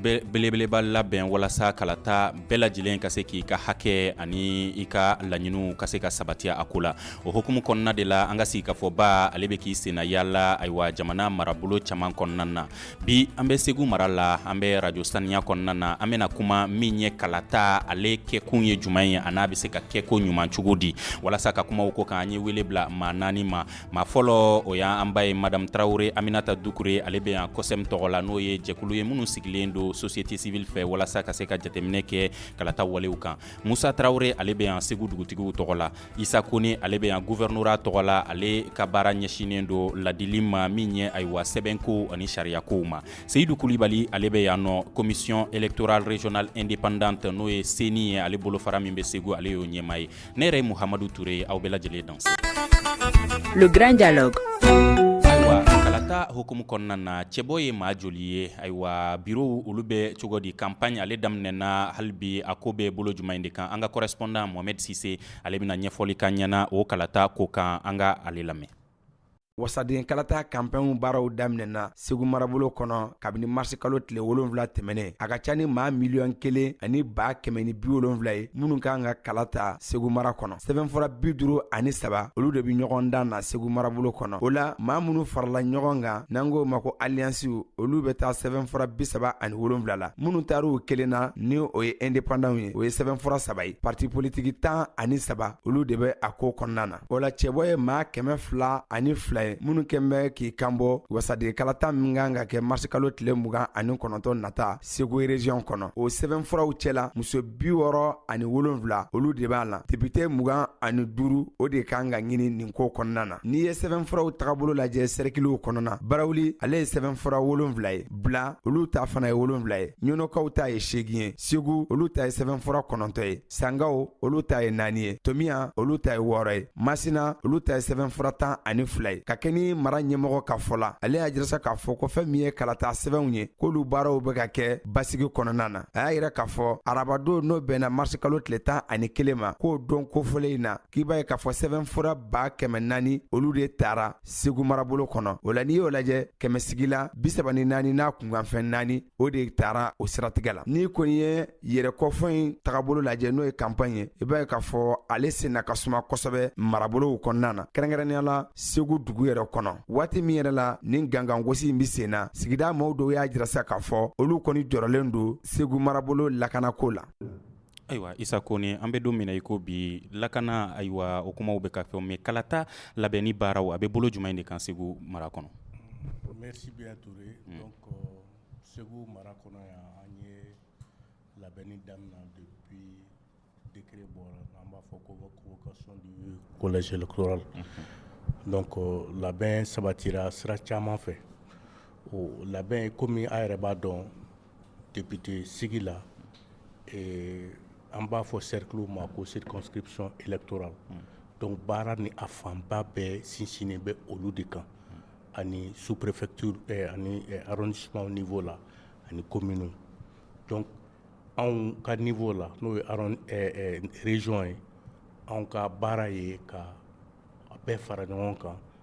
belebeleba labɛn walasa kalata bɛɛ lajɛlen ka se k'i ka hakɛ ani i ka laɲiniw ka se ka sabatiya a ko la o hukumu kɔnɔna de la an ka sigi ka fɔba ale bɛ k'i senna yaala ayiwa jamana marabolo caman kɔnɔna na bi an bɛ segu mara la an bɛ arajo saniya kɔnɔna na an bɛna kuma min ye kalata ale kɛkun ye jumɛn ye an'a bɛ se ka kɛ ko ɲuman cogo di walasa ka kuma o ko kan an ye wele bila maa naani ma maa fɔlɔ o y' an ba ye madamu tarawele aminata dukure ale bɛ yan kɔsɛmɛ tɔgɔ la n'o ye jɛkulu ye minnu sigilen don société civile fɛ walasa ka se ka jateminɛ kɛ kalata walew kan musa tarawele ale bɛ yan segu dugutigiw tɔgɔ la isa kɔnɛ ale bɛ yan gouvernorat tɔgɔ la ale ka baara ɲɛsinnen don ladili ma min ye ayiwa sɛbɛnko ani sariyakow ma seyidu kulibali ale bɛ yan nɔ commission électorale régionale indépendante n'o ye ceni ye ale bolofara min bɛ segu ale y'o ɲɛmaa ye ne yɛrɛ ye muhamadu ture ye aw bɛɛ lajɛlen danse le grand dialogue ayiwa kalata hukumu kɔnɔna na cɛbɔ ye maa joli ye ayiwa birow olu bɛ cogo di kanpaɲi ale daminɛna hali bi a ko bɛ bolo jumɛn de kan an ka kɔrɔspɔndan mohamɛdi sise ale bɛna ɲɛfɔli k'an ɲɛna o kalata ko kan an ka ale lamɛn wasaden kalata kanpaɲi baaraw daminɛna segu marabolo kɔnɔ kabini marisikalo tile wolonfila tɛmɛnen a ka ca ni maa miliyɔn kelen ani ba kɛmɛ ni bi wolonfila ye minnu kan ka kala ta segu mara kɔnɔ sɛbɛnfura bi duru ani saba olu de be ɲɔgɔn dan na segu marabolo kɔnɔ o la maa minnu farala ɲɔgɔn kan n'an k'o ma ko aliyansiw olu be taa sɛbɛnfura bisaba ani wolonfila la minnu taar'u kelen na ni o ye ɛndepandanw ye o ye sɛbɛnfura saba ye parti politiki tan ani saba olu de bɛ a ko kɔnɔna na o la cɛbɔ ye maa kɛmɛ fila ani fila ye minnu kɛn bɛ k'i kanbɔ wasaden kalata min kan ka kɛ marisikalo tile mugan ani kɔnɔntɔn nata segu erezyon kɔnɔ o sɛbɛnfuraw cɛla muso bi wɔɔrɔ ani wolonfila olu de b'a la depite mugan ani duuru o de kan ka ɲini nin ko kɔnɔna na n'i ye sɛbɛnfuraw tagabolo lajɛ sɛrikiliw kɔnɔna barawuli ale ye sɛbɛnfura wolonfila ye bila olu ta fana ye wolonfila ye ɲɔnɔkaw ta ye seegin ye segu olu ta ye sɛbɛnfura kɔnɔntɔn ye sankaw olu ta ye naani ye tomiya olu ta ye wɔɔrɔ ye masina olu ta ye sɛbɛnfura tan ani fila ye ka kɛɲɛ ni mara ɲɛmɔgɔ ka fɔ la ale y'a jira sa k'a fɔ ko fɛn min ye kalata sɛbɛnw ye k'olu baaraw bɛ ka kɛ basigi kɔnɔna na a y'a yira k'a fɔ arabadon n'o bɛnna marisikalo tile tan ani kelen ma k'o don kofɔlen in na k'i b'a ye k'a fɔ sɛbɛnfura ba kɛmɛ naani olu de tara segu marabolo kɔnɔ o la n'i y'o lajɛ kɛmɛsigi la bisaba ni naani n'a kunkanfɛn naani o de tara o siratigɛ la n'i kɔni ye yɛrɛkɔfɔ in tagabolo lajɛ n'o ye kanpaɲi ye i b'a ye k'a fɔ ale senna ka suma kosɛbɛ marabolow kɔnɔna na kɛrɛnkɛrɛnnenya la segu dugu yɛrɛ kɔnɔ waati min yɛrɛ la nin gangangosi in bɛ sen na sigida maaw dɔw y'a jira sa k'a fɔ olu kɔni jɔrɔlen don segu marabolo lakanako la Ayiwa isa ko ni an bɛ don min i ko bi lakana ayiwa o kumaw bɛ ka fɛn mɛ kalata labɛnni baara a bɛ bolo jumɛn in de kan segu mara kɔnɔ segu mara kɔnɔ an ye labɛn daminɛ de bɔ an b'a fɔ ko la ko labɛn sabati sira caman fɛ labɛn kɔmi an yɛrɛ b'a dɔn debite sigi la an b'a fɔ seriw ma ko siriksɔn e tora dɔnku baara ni a fanba bɛɛ sinsin bɛ olu de kan ani superetu ani simaw fɔ la ani ko minnu anw ka nin fɔ la n'o ye rezson ye anw ka baara ye ka bɛɛ fara ɲɔgɔn kan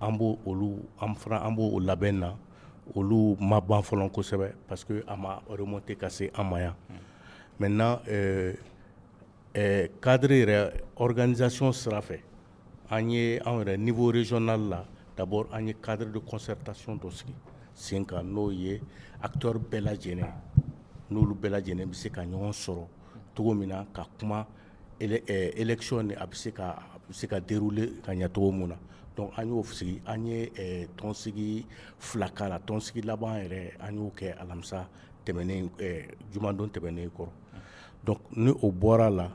an b' olu an fana an b'o labɛn na olu ma ban fɔlɔ kosɛbɛ parce que a ma remonter ka se an ma yan maintenant cadre yɛrɛ organisation sira fɛ an ye anw yɛrɛ niveau régional la d'abord an ye cadre de concertation dɔ sigi sen kan n'o ye acteur bɛɛ lajɛlen n'olu bɛɛ lajɛlen bɛ se ka ɲɔgɔn sɔrɔ cogo min na ka kuma élection nin a bɛ se ka dérouler ka ɲɛ cogo min na dɔnku an y'o sigi an ye tɔnsigi fila k'a la tɔnsigi laban yɛrɛ an y'o kɛ alamisa tɛmɛnen jumadon tɛmɛnen kɔrɔ dɔnku ni o bɔra la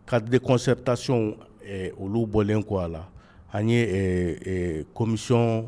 cadre de concertation olu bɔlen kɔ a la an ye komisɔn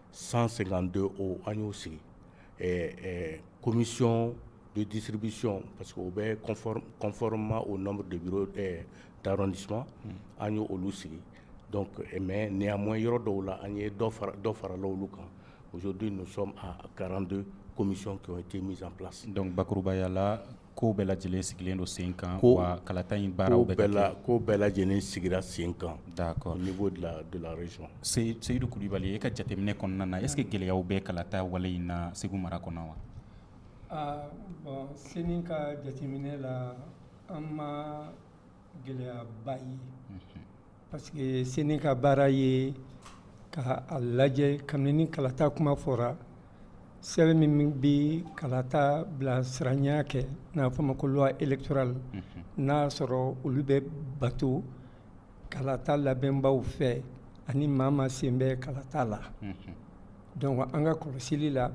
san sen don o an y'o sigi komisɔn de disiribisɔn parce que o bɛ kɔnfari ma o de taara s an y' olu sigi mɛ ni y'a mɔn yɔrɔ dɔw la an ye dɔ fara la olu kan o don garante komisɔn kɛ te misanla dɔnkucbakurubaya la ko bɛɛ lajɛlen sigilen don sen kan wa kalata in baara bɛɛ la ko bɛɛ lajɛlen sigira sen kan d'accord au niveau de la région seyidu kulubali e ka jateminɛ kɔnɔna na est-ce que gɛlɛyaw bɛ kalata wale in na segu mara kɔnɔ wa bon CENI ka jateminɛ la an ma gɛlɛyaba ye parce que CENI ka baara ye ka a lajɛ kabini ni kalata kuma fɔra sɛbɛn min bɛ kalata bilasiraya kɛ n'a fɔ ma ko loi électorale n'a'a sɔrɔ olu bɛ bato kalata labɛnbaw fɛ ani maa o maa sen bɛ kalata la dɔnku an ka kɔlɔsili la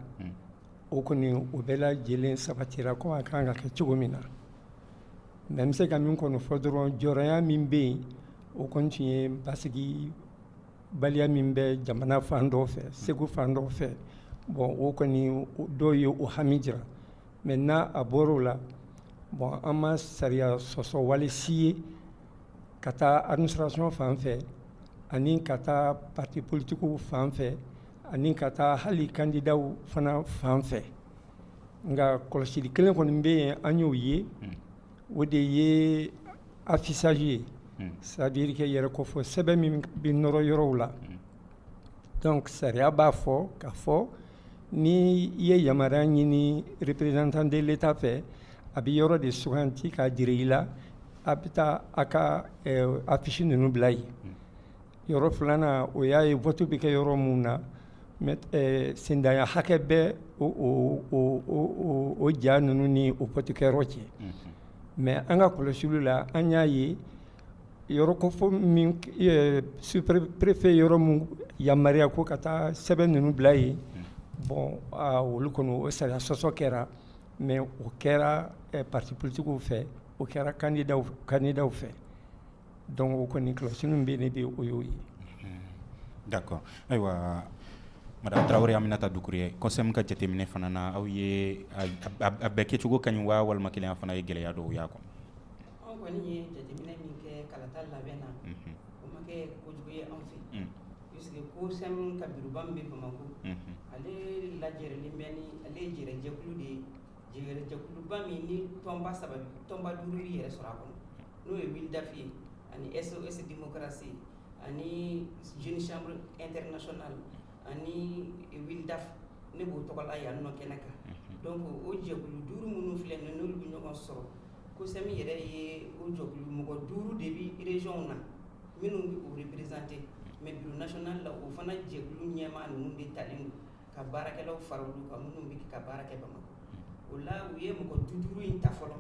O kɔni o bɛɛ lajɛlen sabatira ko a kan ka kɛ cogo min na mais n bɛ se ka min kɔni fɔ dɔrɔn jɔrɔnya min bɛ yen o kɔni tun ye basigi baliya min bɛ jamana fan dɔw fɛ Segu fan dɔ fɛ bon o kɔni dɔw ye o hami jira mais n'a a bɔr'o la bon an ma sariya sɔsɔ wale si ye ka taa administration fan fɛ ani ka taa parti politiques fan fɛ Ani ka taa hali kandidaw fana fan fɛ nka kɔlɔsili kelen kɔni bɛ yen an y'o ye o de ye affichage ye c'est-à-dire que yɛrɛkofɔ sɛbɛn min bɛ nɔrɔ yɔrɔw la donc sariya b'a fɔ k'a fɔ ni i ye yamaruya ɲini représentant de l'État fɛ a bɛ yɔrɔ de suganti k'a jira i la a bɛ taa a ka affiche ninnu bila yen Yɔrɔ filanan o y'a ye vote bɛ kɛ yɔrɔ minnu na sendanya hakɛ bɛ o ja ninnu ni o votekɛyɔrɔ cɛ mais an ka kɔlɔsiliw la an y'a ye yɔrɔ kofɔ min sous-préfet yɔrɔ minnu yamaruya ko ka taa sɛbɛn ninnu bila yen bon olu kɔnɔ o sariya sɔsɔ kɛra mais o kɛra parti politiques fɛ o kɛra kandidaw fɛ Donc o kɔni kɔlɔsili min bɛ ne bɛ o y'o ye d'accord ayiwa madame Traoré Aminata Doucouré COCEM ka jateminɛ fana na aw ye a bɛɛ kɛcogo ka ɲi waa walima kelen fana ye gɛlɛya dɔw y'a kɔnɔ Jɛrɛjɛkuluba min ni tɔnba saba bɛ tɔnba duuru bɛ yɛrɛ sɔrɔ a kɔnɔ n'o ye WILDAF ye ani SOS Démocratie ani Jeune Chambre Internationale ani WILDAF ne b'o tɔgɔ la yan nɔ kɛnɛ kan donc o jɛkulu duuru minnu filɛ nin n'olu bɛ ɲɔgɔn sɔrɔ COCEM yɛrɛ ye o jɛkulu mɔgɔ duuru de bɛ région na minnu bɛ o représenter mais bureau national la o fana jɛkulu ɲɛmaa ninnu de talen don ka baarakɛlaw fara olu kan minnu bɛ ka baara kɛ Bamakɔ, o la u ye mɔgɔ duuru in ta fɔlɔ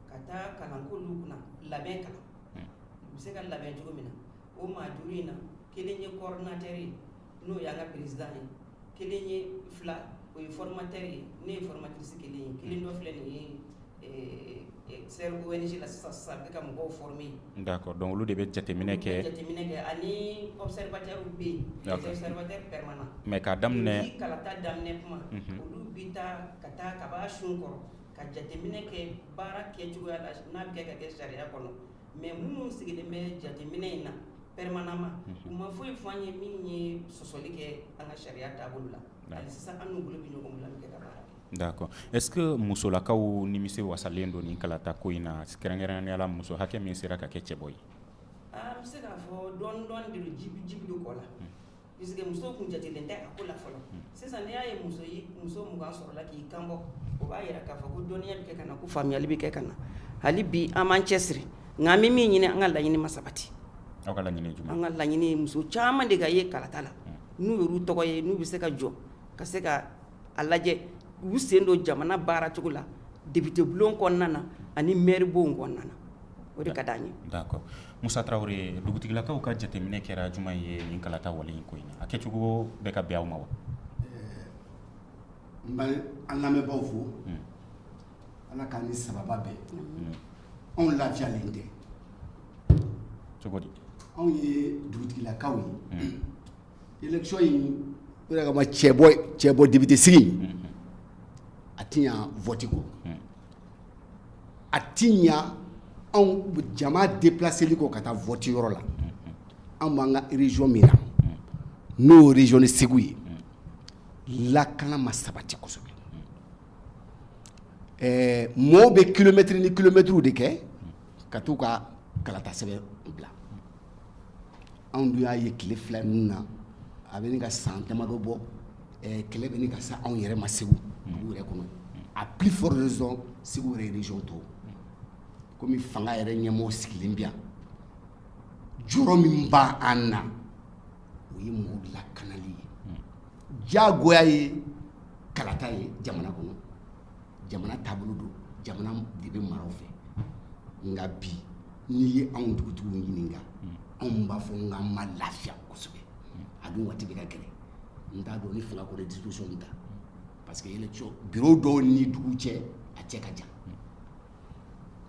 ka taa kalan k'olu kunna labɛn kalan u bɛ se ka labɛn cogo min na o maa duuru in na kelen ye coordinateur ye n'o y'an ka président ye kelen ye fila o ye formateur ye ne ye formatrice kelen ye kelen dɔ filɛ nin ye Sɛbɛn la sisan sisan bɛ ka mɔgɔw former d'accord donc olu de bɛ jateminɛ kɛ jateminɛ kɛ ani observateur bɛ yen observateur permanent mais k'a daminɛ kalata daminɛ kuma olu bɛ taa ka taa ka b'a sun kɔrɔ ka jateminɛ kɛ baara kɛ cogoya la n'a bɛ kɛ ka kɛ sariya kɔnɔ mais minnu sigilen bɛ jateminɛ in na permanemment u ma foyi fɔ an ye min ye sɔsɔli kɛ an ka sariya taabolo la D'accord est ce que musolakaw nimisi wasalen don nin kalata ko in na kɛrɛnkɛrɛnnenya la muso hakɛ min sera ka kɛ cɛbɔ ye? Aa n bɛ se k'a fɔ dɔɔni dɔɔni de don ji bi ji bi don kɔ la puisque muso tun jatelen tɛ a ko la fɔlɔ sisan n'i y'a ye muso ye muso 20 sɔrɔla k'i kanbɔ o b'a jira k'a fɔ ko dɔnniya bɛ kɛ ka na ko faamuyali bɛ kɛ ka na hali bi an b'an cɛsiri nka an bɛ min ɲini an ka laɲini ma sabati, aw ka laɲini ye jumɛn ye? an ka laɲini ye muso caman de ka ye kalata la n'u y'u tɔgɔ ye n'u bɛ se ka jɔ ka se ka a lajɛ u sen don jamana baaracogo la depite bulon kɔnɔna na ani mɛri bon kɔnɔna na o de ka di an ye d'accord Musa Traoré dugutigilakaw ka jateminɛ kɛra jumɛn ye nin kalata wale in ko in na a kɛcogo bɛ ka bɛn aw ma wa n b'an lamɛnbagaw fo Ala k'an ni sababa bɛn anw lafiyalen tɛ cogo di anw ye dugutigilakaw ye élection in kama cɛbɔ cɛbɔ depite sigi a tɛ ɲa vote ko a tɛ ɲa anw jama déplaceli ko ka taa vote yɔrɔ la anw b'an ka région min na n'o région ni Segu ye lakana ma sabati kosɛbɛ ɛɛ mɔɔw bɛ kilomɛtɛrɛ ni kilomɛtɛrɛw de kɛ ka t'u ka kalatasɛbɛn bila, anw dun y'a ye tile fila ninnu na a bɛ ɲini ka san damadɔ bɔ ɛɛ kɛlɛ bɛ ɲini ka se anw yɛrɛ ma Segu dugu yɛrɛ kɔnɔ à plus forte raison Segu yɛrɛ région tɔw komi fanga yɛrɛ ɲɛmɔgɔw sigilen bɛ yan jɔrɔ min b'an na o ye mɔgɔw lakanali ye diyagoya ye kalata ye jamana kɔnɔ jamana taabolo don jamana de bɛ maraw fɛ nka bi n'i ye anw dugutigiw ɲininka anw b'a fɔ n k'an ma lafiya kosɛbɛ a dun waati bɛɛ ka gɛlɛn n t'a dɔn ni fanga ko disposition ta parce que yɛlɛ bureau dɔw ni dugu cɛ a cɛ ka jan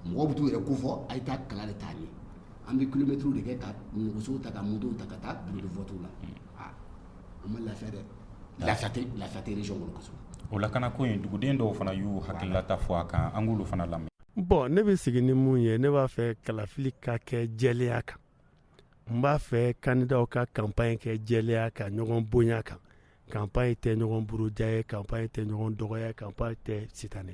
mɔgɔw bɛ t'u yɛrɛ ko fɔ a ye taa kala de ta yen an bɛ kilomɛtiriw de kɛ ka nɛgɛsow ta ka motow ta ka taa bureau de vote la aa an ma lafiya dɛ lafiya tɛ lafiya tɛ région kɔnɔ kosɛbɛ o lakana ko in duguden dɔw fana y'u hakililata fɔ a kan an k'olu fana lamɛn bon ne bɛ sigi ni mun ye ne b'a fɛ kalafili ka kɛ jɛlenya kan n b'a fɛ kandidaw ka kanpaɲi kɛ jɛlenya kan ɲɔgɔn bonya kan kanpaɲi tɛ ɲɔgɔn buruja ye kanpaɲi tɛ ɲɔgɔn dɔgɔya kanpaɲi tɛ si tan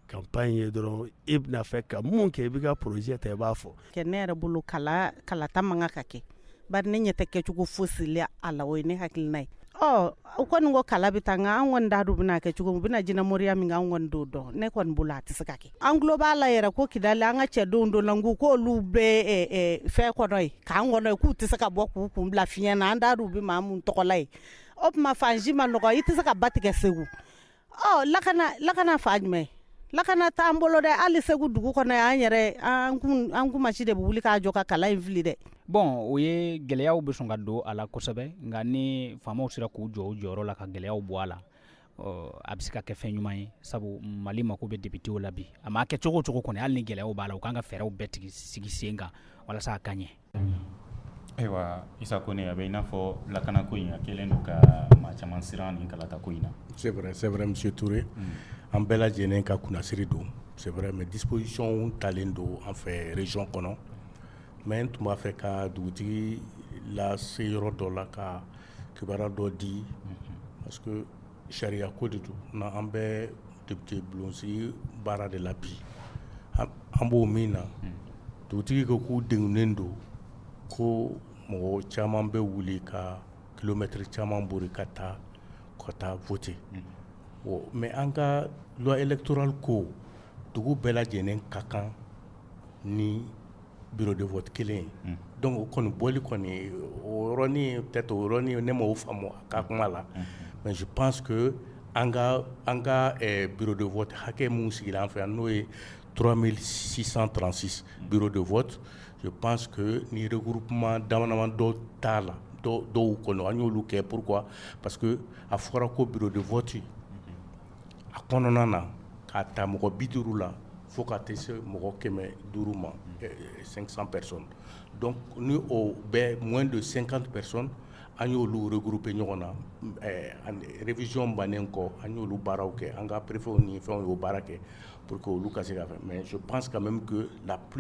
kanpaɲi ye dɔrɔn e bɛna fɛ ka mun kɛ i b'i ka projet ta i b'a fɔ kɛ ne yɛrɛ bolo kala kalata man kan ka kɛ bari ne ɲɛ tɛ kɛcogo fosi la a la o ye ne hakilina ye ɔ u kɔni ko kala bɛ ta nka an kɔni t'a dɔn a bɛna kɛ cogo min u bɛna jinɛmoriya min an kɔni t'o dɔn ne kɔni bolo a tɛ se ka kɛ an tulo b'a la yɛrɛ ko Kidali an ka cɛdenw donna ko k'olu bɛ fɛn kɔnɔ yen camp kɔnɔ yen k'u tɛ se ka bɔ k'u kun bila fiɲɛ na an t'a dɔn u bɛ maa mun tɔgɔla ye o tuma fan si man nɔgɔn i tɛ se ka ba tigɛ segu lakana lakana fan jumɛn lakana t'an bolo dɛ hali segu dugu kɔnɔ an yɛrɛ an kunmasi de bɛ wuli k'a jɔ ka kala in fili dɛ bon o ye gɛlɛyaw bɛ sɔn ka don a la kosɛbɛ nka ni faamaw sera k'u jɔ u jɔyɔrɔ la ka gɛlɛyaw bɔ a la a bɛ se ka kɛ fɛn ɲuman ye sabu mali mako bɛ députéw la bi a ma kɛ cogo o cogo kɔni hali ni gɛlɛyaw b'a la u ka kan ka fɛɛrɛw bɛɛ tigɛ sigi sen kan walasa a ka ɲɛ ayiwa isa kone a bɛ i n'a fɔ lakana ko in kɛlen don ka maa caman siran nin kalata ko in na c'est vrai monsieur touré an bɛɛ lajɛlen ka kunnasiri don c'est vrai mais disposition talen don an fɛ région kɔnɔ mais n tun b'a fɛ ka dugutigi lase yɔrɔ dɔ la ka kibaru dɔ di parce que sariya ko de don n' an bɛ député bulon sigi baara de la bi an b'o min na dugutigi ko k'u degunnen don ko mɔgɔ caman bɛ wuli ka kilomɛtiri caman boli ka taa ka taa voter mais an ka loi électorale ko dugu bɛɛ lajɛlen ka kan ni biri de fɔ kelen don o kɔni bɔli kɔni oɔrɔnin tɛ to oɔrɔnin ne ma o faamu ka kuma la mɛ pan an ka an ka biri de fɔ hakɛ minnu sigi an fɛ yan n'o ye tura sisan transi bi de fɔ pan niuruk dama dɔw t'a la dɔw kɔnɔ an y'olu kɛ pwa pa que a fɔra ko biri de fɔti a kɔnɔna na k'a ta mɔgɔ bi duuru la fo ka tɛ se mɔgɔ kɛmɛ duuru ma san pɛsɔn dɔn ni bɛ mɔ don sen kan pɛsɔn an y'oluere gurp ɲɔgɔn na rezyɔn bannen kɔ an y'olu baaraw kɛ an ka perepw ni fɛn y'o baara kɛ po que olu ka se ka mɛ so pan ka mɛ min lapp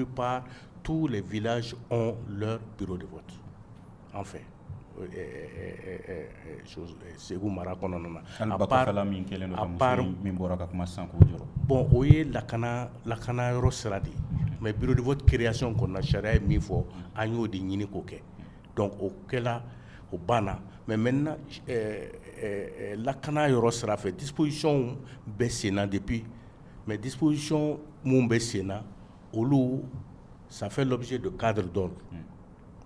tu la v la de An fɛ segu mara kɔnɔna na bɔn o ye lakana lakana yɔrɔ sira de ye mɛ bidi bɔ kireyasi kɔnɔna sariya ye min fɔ an y'o de ɲini k'o kɛ dɔn o kɛlen o banna mɛ mɛ lakana yɔrɔ sira fɛ dipsiw bɛ senna de bi mɛ dipsiy minnu bɛ senna olu sanfɛ dɔ bɛ se don kadi dɔ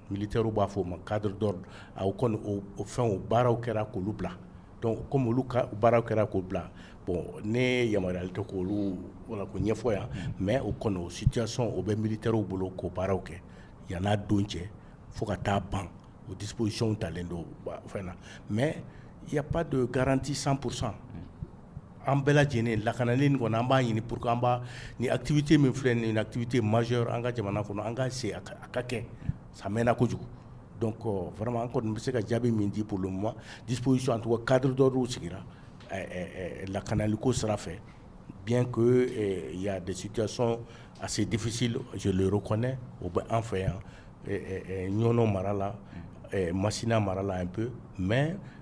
Militairew b'a fɔ o ma cadre d'ordre o kɔni o fɛn o baaraw kɛra k'olu bila donc comme olu ka baara kɛra k'o bila bon ne yamaruyalen tɛ k' olu wala ko ɲɛfɔ yan mais o kɔni o situation o bɛ militairew bolo k'o baaraw kɛ yann'a don cɛ fo ka taa ban o dispositionw talen don fɛn na mais il y a pas de garantie cent pour cent an bɛɛ lajɛlen lakanalen kɔnɔ an b'a ɲini pur an ni atifite min filɛ ni atifite mari an ka jamana kɔnɔ an ka se a ka kɛ san mɛnna kojugu dɔn kɔ farama an kɔni bɛ se ka jaabi min di bolo ma dipsi an tɔgɔ kadi dɔw sigira lakanaliko sira fɛ bi ko ya desison a se defisi zoyur kɔnɛ o bɛ an fɛ yan ɲɔn mara la masina mara la an pe mɛ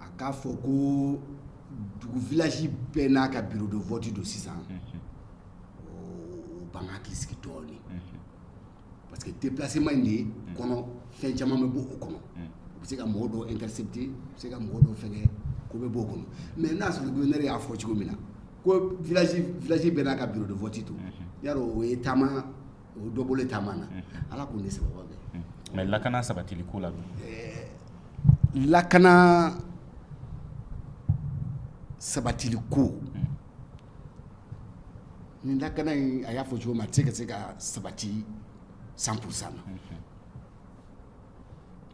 a k'a fɔ ko dugu village bɛɛ n'a ka bureau de vote don sisan, unhun, o b'an hakili sigi dɔɔni, unhun, parce que déplacement in de kɔnɔ fɛn caman bɛ bɔ o kɔnɔ, unhun, u bɛ se ka mɔgɔ dɔw intercepter u bɛ se ka mɔgɔ dɔw fɛngɛ ko bɛ bɔ o kɔnɔ mais n'a y'a sɔrɔ gouverneur y'a fɔ cogo min na ko village village bɛɛ n'a ka bureau de vote don, unhun, yarɔ o ye taama o dɔ bolo taama na ala k'u ni sababu bɛn mais lakana sabatiliko la lakana sabatiliko ni lakana in a y'a fɔ cogo min a tɛ ka se ka sabati cent pour cent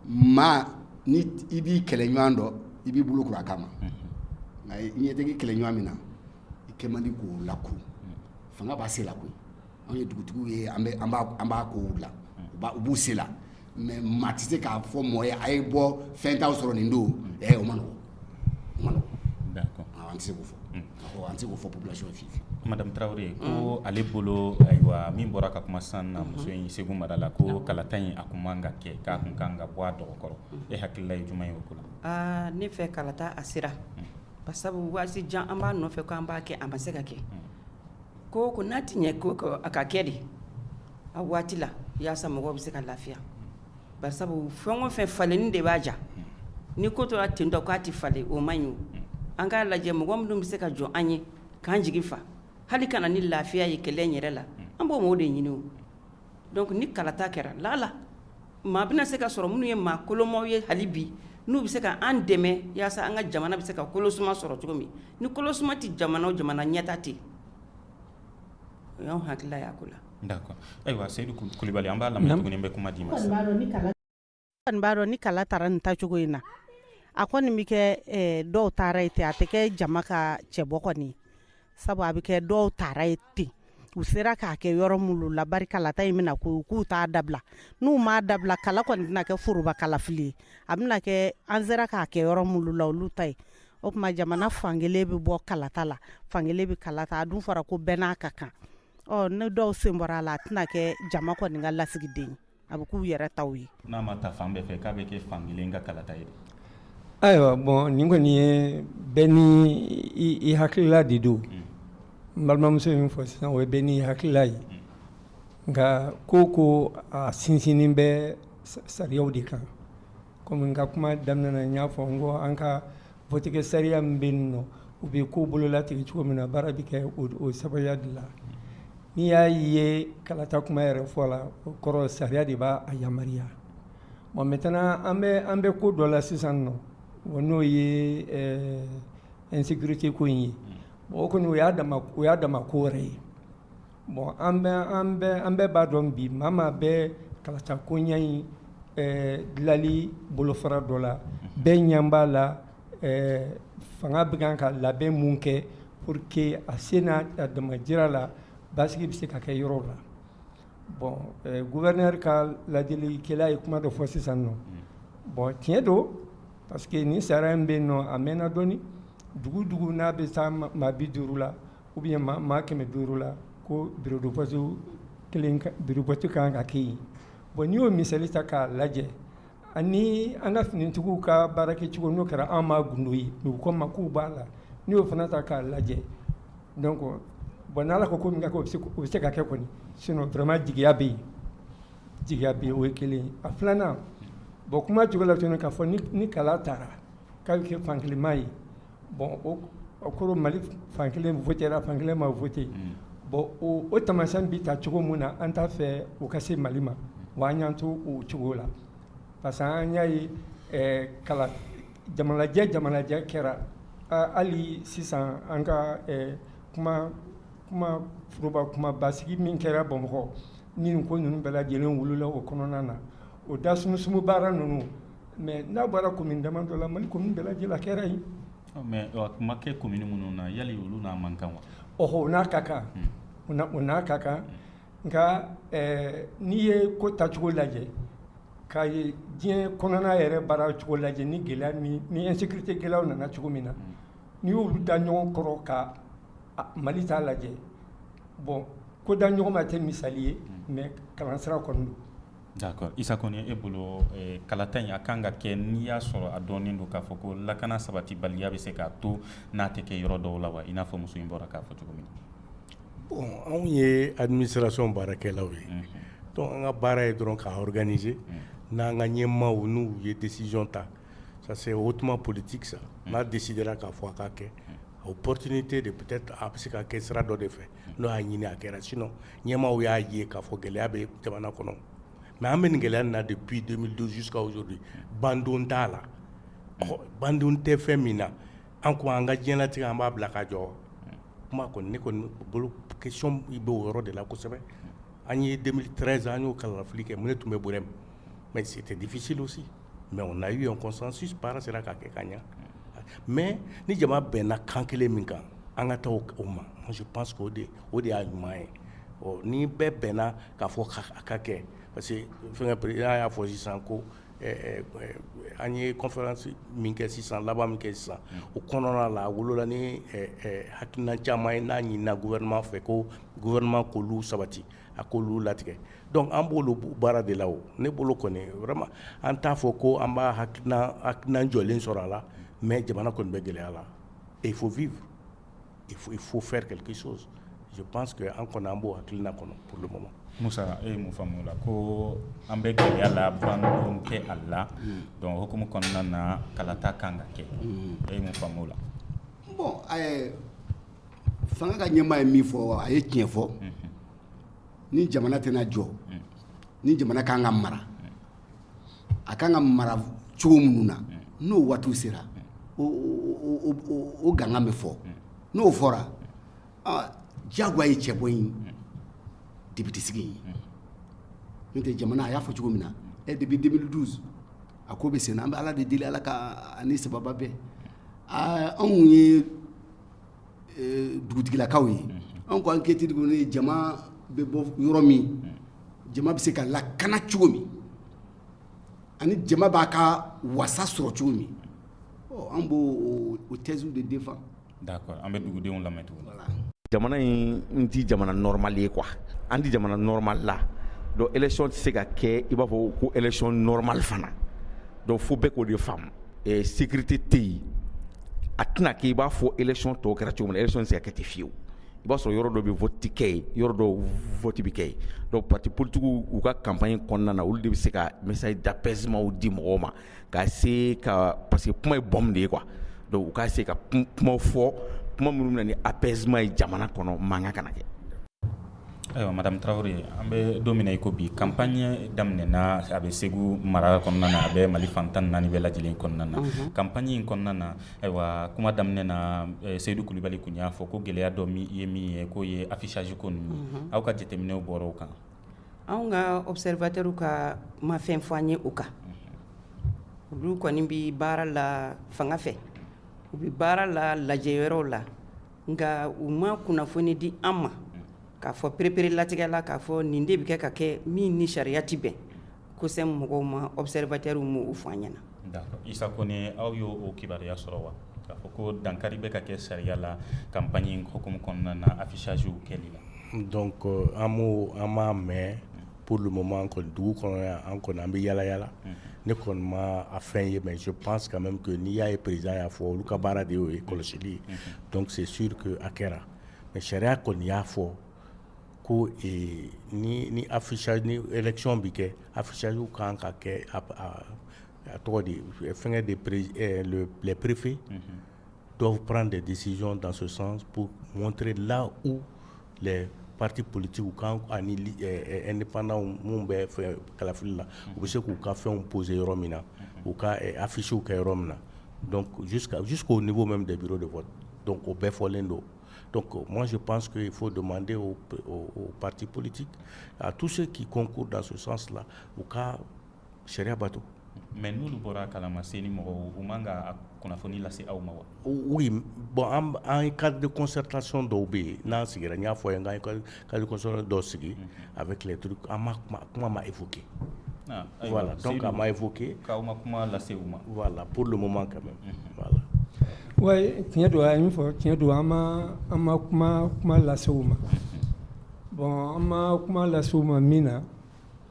maa ni i b'i kɛlɛ ɲɔgɔn dɔn i b'i bolo kuru a kama nka i ɲɛ t'i kɛlɛ ɲɔgɔn min na i kɛ man di k'o lakun fanga b'a se la koyi Anw ye dugutigiw ye an b'a kow la u b'u se la mais maa tɛ se k'a fɔ mɔgɔ ye a ye bɔ fɛn t'aw sɔrɔ nin don ɛ o man nɔgɔn an tɛ se k'o fɔ an tɛ se k'o fɔ population ye Madame Traoré ko ale bolo ayiwa min bɔra ka kuma san na muso in Segu mara la ko kalata in a kun man kan ka kɛ k'a kun ka kan ka bɔ a dɔgɔ kɔrɔ e hakilila ye jumɛn ye o ko la ne fɛ kalata a sera ba sabu waati jan an b'a nɔfɛ k'an b'a kɛ a ma se ka kɛ Ko ko n'a tɛ ɲɛ ko a ka kɛ de a waati la yaasa mɔgɔw bɛ se ka lafiya bari sabu fɛn o fɛn falenni de b'a ja ni ko tora ten dɔ k'a tɛ falen o man ɲi an k'a lajɛ mɔgɔ minnu bɛ se ka jɔ an ye k'an jigi fa hali ka na ni lafiya ye kɛlɛ yɛrɛ la an b'o maaw de ɲini Donc ni kalata kɛra laala maa bɛna se ka sɔrɔ minnu ye maa kolomaw ye hali bi n'u bɛ se ka an dɛmɛ yaasa an ka jamana bɛ se ka kolo suma sɔrɔ cogo min ni kolo suma tɛ jamana o jamana ɲɛtaa tɛ yen o y'anw hakilila ye a ko la d'accord ayiwa Seyidu Kulubali an b'a lamɛn tuguni an bɛ kuma d'i ma sisan. b'a dɔn ni kala taara nin taacogo in na a kɔni bɛ kɛ dɔw taara ye ten a tɛ kɛ jama ka cɛbɔ kɔni sabu a bɛ kɛ dɔw taara ye ten u sera k'a kɛ yɔrɔ minnu la bari kalata in bɛna ko k'u t'a dabila n'u m'a dabila kala kɔni tɛna kɛ foroba kalafili ye a bɛna kɛ an sera k'a kɛ yɔrɔ minnu la olu ta ye o tuma jamana fankelen bɛ bɔ kalata la fankelen bɛ kalata a dun fɔra ko bɛɛ n'a ka kan ɔ ni dɔw sen bɔra a la a tɛna kɛ jama kɔni ka lasigiden ye a bɛ k'u yɛrɛ ta ye n'a ma ta fan bɛɛ fɛ k'a bɛ kɛ fan kelen ka kalata ye ayiwa bon nin kɔni ye bɛɛ ni i hakilila de don n balimamuso min fɔ sisan o ye bɛɛ n'i hakilila ye nka ko ko a sinsinnen bɛ sariyaw de kan Komi n ka kuma daminɛ na n y'a fɔ n ko an ka votikɛ sariya min bɛ yen nɔ u bɛ ko bololatigɛ cogo min na baara bɛ kɛ o sababuya de la n'i y'a ye kalata kuma yɛrɛ fɔ la o kɔrɔ sariya de b'a yamaruya bon maintenant an bɛ an bɛ ko dɔ la sisan nɔ o n'o ye insécurité ko in ye bon o kɔni o y'a o y'a dama ko wɛrɛ ye Bon an an bɛɛ b'a dɔn bi maa maa bɛ kalata koɲa in dilanli bolofara dɔ la bɛɛ ɲɛ b'a la fanga bɛ kan ka labɛn minnu kɛ pour que a se n'a a damajira la basigi bɛ se ka kɛ yɔrɔ la bon gouverneur ka laadilikɛla ye kuma dɔ fɔ sisan nɔ bon tiɲɛ don parce que ni sariya in bɛ yen nɔ a mɛnna dɔɔnini dugu dugu n'a bɛ taa maa bi duuru la Ou bien maa kɛmɛ duuru la ko bureau de vote bureau de vote kan ka kɛ yen bon n'i y'o misali ta k'a lajɛ ani an ka finitigiw ka baarakɛcogo n'o kɛra an ma gundo ye u ko ma k'u b'a la n'i y'o fana ta k'a lajɛ donc bon n'ala ko ko bɛɛ bɛ se ka kɛ kɔni sinon vraiment jigiya bɛ yen jigiya bɛ o ye kelen ye a filanan bon kuma cogo la k'a fɔ ni kala tara k'a bɛ kɛ fankelenma ye Bon o kɔrɔ mali fan kelen votera fan kelen ma vote bon o tamasiyɛn bɛ ta cogo min na an t'a fɛ o ka se mali ma wa an y'an to o cogo la parce que an y'a ye kala jamanajɛ jamanajɛ kɛra hali sisan an ka kuma foroba kuma basigi min kɛra bamakɔ ni ko ninnu bɛɛ lajɛlen wolola o kɔnɔna na o da sumusumu baara ninnu Mais n'a bɔra commune damadɔ la mali commune bɛɛ lajɛlen a kɛra yen mais o ma kɛ commune minnu na yali olu n'a man kan wa o n'a ka kan u u n'a ka kan nka n'i ye ko tacogo lajɛ k'a ye diɲɛ kɔnɔna yɛrɛ baara cogo lajɛ ni gɛlɛya ni insécurité gɛlɛyaw nana cogo min na n'i y'olu da ɲɔgɔn kɔrɔ ka mali ta lajɛ bon ko da ɲɔgɔn ma tɛ misali ye mais kalansira kɔni don D'accord Isa Kɔnɛ e bolo ɛɛ kalata in a kan ka kɛ n'i y'a sɔrɔ a dɔnnen don k'a fɔ ko lakana sabatibaliya bɛ se k'a to n'a tɛ kɛ yɔrɔ dɔw la wa i n'a fɔ muso in bɔra k'a fɔ cogo min na bon anw ye administration baarakɛlaw ye unhun donc an ka baara ye dɔrɔn k'a organiser unhun n'an ka ɲɛmaaw n'u ye décision ta ça c'est hautement politique ça unhun n'a décidera k'a fɔ a ka kɛ unhun opportunité de peut être a bɛ se ka kɛ sira dɔ de fɛ unhun n'o y'a ɲini a kɛra sinon ɲɛmaaw y'a ye k'a fɔ gɛlɛya bɛ jamana kɔnɔ mais an bɛ nin gɛlɛya in na depuis 2012 jusqu'à aujourd'hui bandon t'a la, ɔhɔ, bandon tɛ fɛn min na an ko an ka diɲɛlatigɛ an b'a bila ka jɔ kuma kɔni ne kɔni bolo question in bɛ o yɔrɔ de la kosɛbɛ an ye 2013 an y'o kalafili kɛ ne tun bɛ Burɛm mais c'était difficile aussi mais on a eu un consensus baara sera ka kɛ ka ɲɛ mais ni jama bɛnna kan kelen min kan an ka taa o ma je pense que o de y'a ɲuman ye ɔ ni bɛɛ bɛnna k'a fɔ a ka kɛ parce que fɛnkɛ président y'a fɔ sisan ko an ye conférence min kɛ sisan laban min kɛ sisan o kɔnɔna la a wolola ni hakilina caman ye n'a ɲinina gouvernement fɛ ko gouvernement k'olu sabati a ko olu latigɛ donc an b'olu baara de la o ne bolo kɔni vraiment an t'a fɔ ko an b'a hakilina jɔlen sɔrɔ a la mais jamana kɔni bɛ gɛlɛya la et il faut vivre il faut faire quelque chose je pense que an kɔni an b'o hakilina kɔnɔ pour le moment Musa e ye mun faamu o la ko an bɛ gɛlɛya la bandon tɛ a la donc hukumu kɔnɔna na kalata kan ka kɛ e ye mun faamu o la Fanga ka ɲɛmaa ye min fɔ a ye tiɲɛ fɔ ni jamana tɛna jɔ ni jamana ka kan ka mara a ka kan ka mara cogo minnu na n'o waatiw sera o gangan bɛ fɔ n'o fɔra jagoya ye cɛbɔ in député sigi ye n'o tɛ jamana a y'a fɔ cogo min na depuis 2012 a ko bɛ sen na an bɛ ala de deli ala ka ani sababu bɛɛ anw ye dugutigilakaw ye anw ko enquête ni jama bɛ bɔ yɔrɔ min jama bɛ se ka lakana cogo min ani jama b'a ka wasa sɔrɔ cogo min an b'o thèse de défendre an bɛ dugudenw lamɛn Togola jamana in tɛ jamana normal ye quoi an tɛ jamana normal la donc élection tɛ se ka kɛ i b'a fɔ ko élection normal fana don fo bɛɛ k'o de faamu sécurité tɛ yen, a tɛna kɛ i b'a fɔ élection tɔw kɛra cogo min na, élection tɛ se ka kɛ ten fiyew, i b'a sɔrɔ yɔrɔ dɔ bɛ vote kɛ yen, yɔrɔ dɔ vote bɛ kɛ yen donc partis politiques u ka campagne kɔnɔna na olu de bɛ se ka message d'apaisement di mɔgɔw ma ka se ka parce que kuma ye bombe de ye quoi donc u ka se ka kuma fɔ kuma minnu bɛ na ni apaisement ye jamana kɔnɔ mankan kana kɛ Ayiwa madame Traoré an bɛ don min na i ko bi campagne daminɛna a bɛ Segu mara kɔnɔna na a bɛ Mali fan 14 bɛɛ lajɛlen kɔnɔna na campagne in kɔnɔna na ayiwa kuma daminɛ na Seyidu Kulubali tun y'a fɔ ko gɛlɛya dɔ ye min ye k'o ye affichage ko ninnu ye aw ka jateminɛw bɔra o kan wa, anw ka observateurs ka ma fɛn fɔ an ye o kan olu kɔni bɛ baara la fanga fɛ u bɛ baara la lajɛyɔrɔw la nka u ma kunnafoni di an ma k'a fɔ perepere latigɛ la k'a fɔ nin de bɛ kɛ ka kɛ min ni sariya tɛ bɛn COCEM mɔgɔw ma observateurs m'o fɔ an ɲɛna d'accord Isa Kone aw y'o kibaruya sɔrɔ wa k'a fɔ ko dankari bɛ ka kɛ sariya la campagne in hukumu kɔnɔna na affichagew kɛli la donc an an m'a mɛn Pma an kɔni dugu kɔnɔ yan an kɔni an bɛ yaa yalala ne kɔni ma a fɛn ye mɛ pan ka mɛ to n'i y'a ye perez y'a fɔ olu ka baara de y'o ye kɔlɔsili dɔnkuse suurke a kɛra mɛ sariya kɔni y'a fɔ ko ni afisa ekiy bɛ kɛ a fisasa kan ka kɛ tɔgɔ fɛnkɛ de perep-efe dɔw pan de desi dansosan mɔnte la u pati politigiw kan ani ni panw minnu bɛ fɛ kalafili la u bɛ se k'u ka fɛnw pose yɔrɔ min na u ka afisiww kɛ yɔrɔ min na k'o nin bɛ de biri de fɔ dɔn o bɛɛ fɔlen don mɔnsi panso fo don manden pati politi a tu se k'i kɔnko dasosan u ka sariya bato mɛ n' bɔra kala ma se ni mɔgɔ u man ka kunnafoni lase aw ma wa bɔn an ye ka di kɔsɔtason dɔw bɛ yen n'an sigira n y'a fɔ ye n ka kɔsɔ dɔw sigi a bɛ tile duuruuru an ma kuma ma e fo ke wala dɔn ka ma e fɔ ke aw ma kuma lase u ma wala p ma ka wa tiɲɛ don a min fɔ tiɲɛ don an an ma kuma kuma lase u ma bɔn an ma kuma lase u ma min na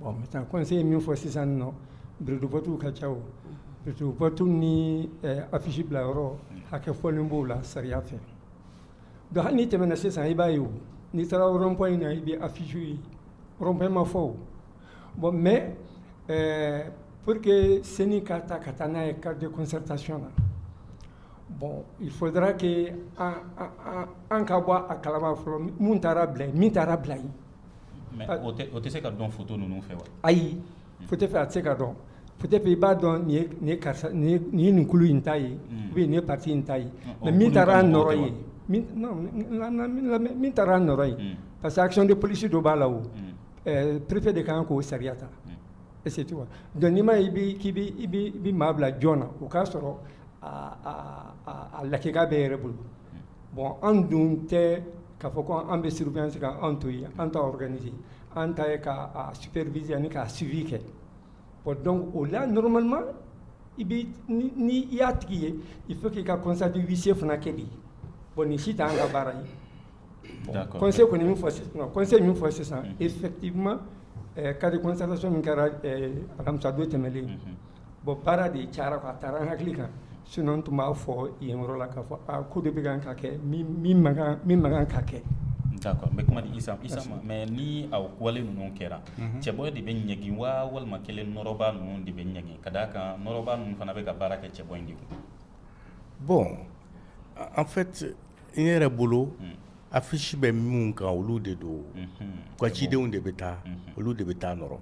Bon maintenant conseil ye min fɔ sisan nɔ bureau de vote ka ca o bureau de vote ni affiche bila yɔrɔ hakɛ fɔlen b'o la sariya fɛ donc hali n'i tɛmɛna sisan i b'a ye n'i taara rond point na i bɛ affiche ye rond point ma fɔ o bon mais pour que CENI ka ta ka taa n'a ye cadre de concertation na bon il faudra que an ka bɔ a kalama fɔlɔ min taara bila yen o tɛ se ka dɔn foto ninnu fɛ wa ayi foto fɛ a tɛ se ka dɔn foto fɛ i b'a dɔn nin ye kulu in ta ye ou bien nin ye parti in ta ye mais min taara a nɔrɔ yen min taara a nɔrɔ yen parce que action de police dɔ b'a la o préfet de kan k'o sariya ta est-ce que tu vois donc n'i ma k'i bɛ maa bila jɔn na o k'a sɔrɔ a lakika bɛ yɛrɛ bolo Bon an dun tɛ k'a fɔ ko an bɛ surveillance kan an to yen, an t'a organiser an ta ye k'a superviser ani k'a suivi kɛ bon donc o la normalement i bɛ ni i y'a tigi ye il faut que i ka constat de huissier fana kɛ de bon nin si tɛ an ka baara ye conseil kɔni ye min fɔ sisan conseil ye min fɔ sisan effectivement cas de constatation min kɛra alamisa don tɛmɛnen Bon baara de ca a taara hakili kan sinon tun b'a fɔ yen yɔrɔ la k'a fɔ ko de bɛ kan ka kɛ min man kan ka kɛ d'accord n bɛ kuma di Isa ma mais ni a wale ninnu kɛra cɛbɔ de bɛ ɲangi wa walima kelen nɔrɔba ninnu de bɛ ɲangi ka d'a kan nɔrɔba ninnu fana bɛ ka baara kɛ cɛbɔ in de kun bon en fait n yɛrɛ bolo affiche bɛ minnu kan olu de don ka cidenw de bɛ taa olu de bɛ taa a nɔrɔ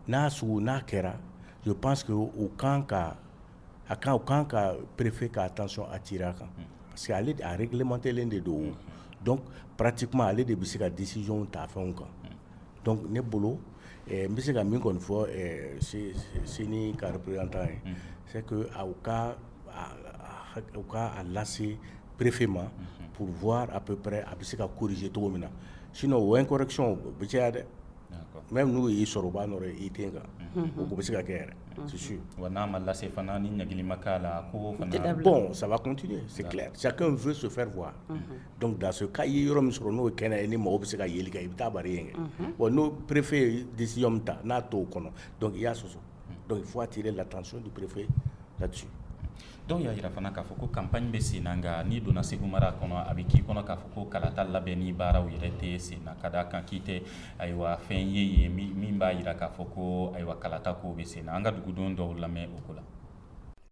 n'a sugu n'a kɛra u pan sigi u kan ka a kan u kan ka perefeere k'a taa sɔn a tira a kan parce que ale arikimantɛlen de don dɔn pati kuma ale de bɛ se ka disizw ta fɛnw kan dɔnku ne bolo n bɛ se ka min kɔni fɔ sen karitan ye se ka u ka lase perefee ma purffa a bɛ a bɛ se ka kuruze cogo min na sin o w kɔrɔc bɛ caya dɛ mɛ n'u y'i sɔrɔ u b'a n i den kan u bɛ se ka kɛ yɛrɛ su wa n'a ma lase fana ni ɲagli ma k'a la ko bɔn saba kun tɛ sa in f so fɛrɛ fɔ dɔnku daso k'a ye yɔrɔ min sɔrɔ n'o kɛnɛ ye ni mɔgɔ bɛ se ka yeli kɛ i bɛ taa ye kɛ n'o perepfe ye disi min ta n'a to o kɔnɔ dɔnku i y'a sɔsɔ donc il faut attirer l'attention du préfet là-dessus dɔw y'a jira fana k'a fɔ ko campagne bɛ sen na nka n'i donna segu mara kɔnɔ a bɛ k'i kɔnɔ k'a fɔ ko kalata labɛnni baaraw yɛrɛ tɛ sen na ka d'a kan k'i tɛ ayiwa fɛn ye yen min b'a jira k'a fɔ ko ayiwa kalata ko bɛ sen na an ka duguden dɔw lamɛn o ko la